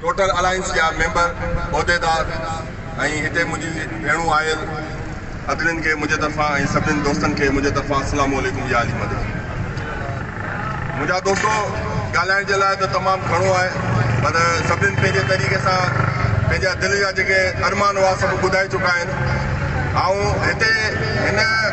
Total alliance جا member, عهديدار ۽ هتي منهنجي ڀيڻون آيل ادرين کي منهنجي طرفان ۽ سڀنين دوستن کي منهنجي طرفان السلام عليڪم يا علي مدد. منهنجا دوستو ڳالهائڻ جي لاء ته تمام گهڻو آهي پر سڀنين پنهنجي طريقي سان پنهنجا دل جا جيڪي ارمان هئا سڀ ٻڌائي چڪا آهن. آئون هتي هن.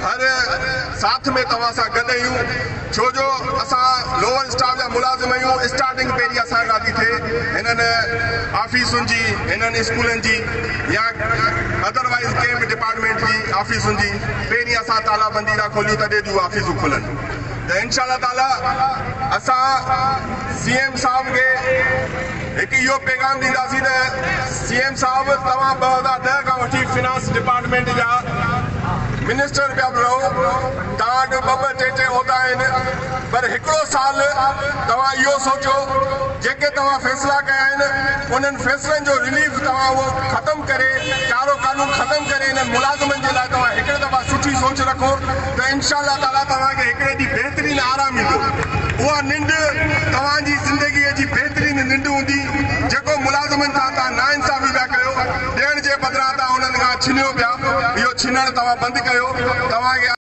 هر ساٿ ۾ توهان سان گڏ اهيون ڇو جو اسان لوور اسٽاف جا ملازم اهيون اسٽارٽنگ پهرين اسان کان ٿي ٿئي هنن آفيسن جي هنن اسڪولن جي يا ادر وائيز ڪنهن به ڊپارٽمينٽ جي آفيسن جي پهرين اسان تالا بندي ٿا کوليون تڏهن ٿيون آفيسون کلن ته انشاء الله تعالي اسان سي ايم صاحب کي هڪ اهو پيغام ڏينداسين ته سي ايم صاحب توهان ٻه هزار ڏهه کان وٺي فنانس ڊپارٽمينٽ جا منسٽر پيا به رهو توهان وٽ ٻه ٻه ٽي ٽي عهدا آهن پر هڪڙو سال توهان اهو سوچو جيڪي توهان فيصلا ڪيا آهن انهن فيصلن جو رليف توهان اهو ختم ڪري ڪارو قانون ختم ڪري انهن ملازمن جي لاء توهان هڪڙي دفعا سٺي سوچ رکو ته انشاء الله تعاليٰ توهان کي هڪڙي ڏينهن بهترين آرام ايندو. اها ننڊ توهان جي زندگيء جي بهترين ننڊ هوندي، جيڪو ملازمن سان توهان ناانصافي پيا ڪيو، ڏيڻ جي بدران توهان انهن کان ڇنيو پيا، اهو ڇنڻ توهان بند ڪيو، توهان کي.